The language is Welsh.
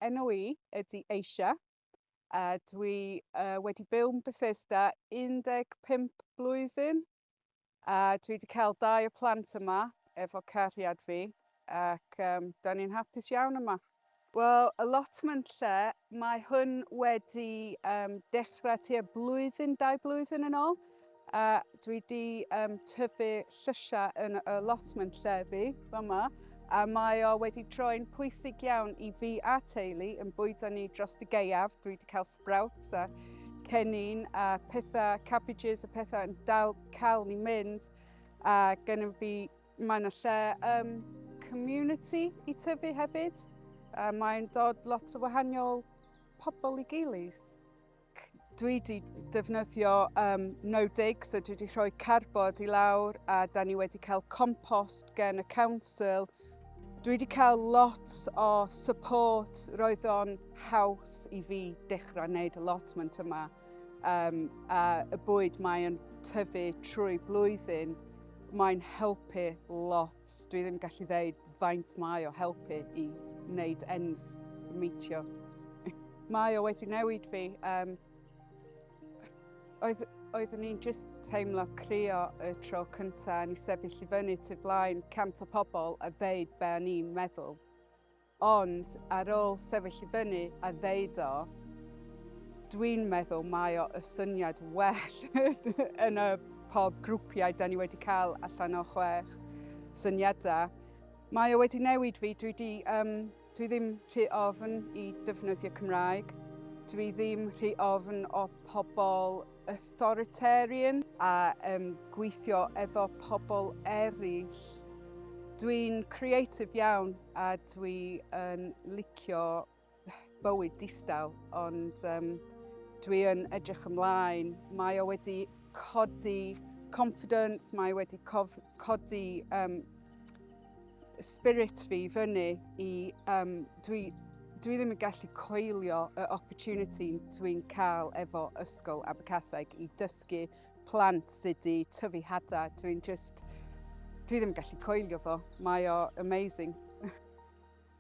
Enw i ydy Asia a dwi uh, wedi byw yn Bethesda 15 blwyddyn a dwi wedi cael dau o plant yma efo cariad fi ac um, da ni'n hapus iawn yma. Wel, y lotman lle, mae hwn wedi um, dechrau tua blwyddyn, dau blwyddyn yn ôl, A dwi wedi um, tyfu llysiau yn y allotment llefi, yma, a mae o wedi troi'n pwysig iawn i fi a teulu yn bwydo ni dros y geiaf. Dwi wedi cael sprouts a cennin a pethau, cabbages a pethau yn dal cael ni mynd. A gennym fi, mae yna lle um, community i tyfu hefyd. A mae'n dod lot o wahanol pobl i gilydd. Dwi wedi defnyddio um, no-dig, so dwi wedi rhoi carbod i lawr a da ni wedi cael compost gen y council. Dwi wedi cael lot o support, roedd o'n haws i fi dechrau wneud y lotment yma. Um, a y bwyd mae'n tyfu trwy blwyddyn, mae'n helpu lot. Dwi ddim gallu ddeud faint mae o helpu i wneud ends meetio. mae o wedi newid fi. Um, oedd, oeddwn i'n just teimlo crio y tro cyntaf ni sefyll i fyny tu flaen cant o pobl a ddeud be o'n i'n meddwl. Ond ar ôl sefyll i fyny a ddeud o, dwi'n meddwl mae o y syniad well yn y pob grwpiau, da ni wedi cael allan o chwech syniadau. Mae o wedi newid fi, dwi, di, um, dwi ddim rhy ofn i defnyddio Cymraeg, dwi ddim rhy ofn o pobl authoritarian a um, gweithio efo pobl eraill. Dwi'n creative iawn a dwi'n licio bywyd distaw, ond um, dwi yn edrych ymlaen. Mae o wedi codi confidence, mae wedi cof, codi um, spirit fi fyny i... Um, dwi, dwi ddim yn gallu coelio y opportunity dwi'n cael efo Ysgol Abercaseg i dysgu plant sydd wedi tyfu hada. Dwi'n just... Dwi ddim yn gallu coelio fo. Mae o amazing.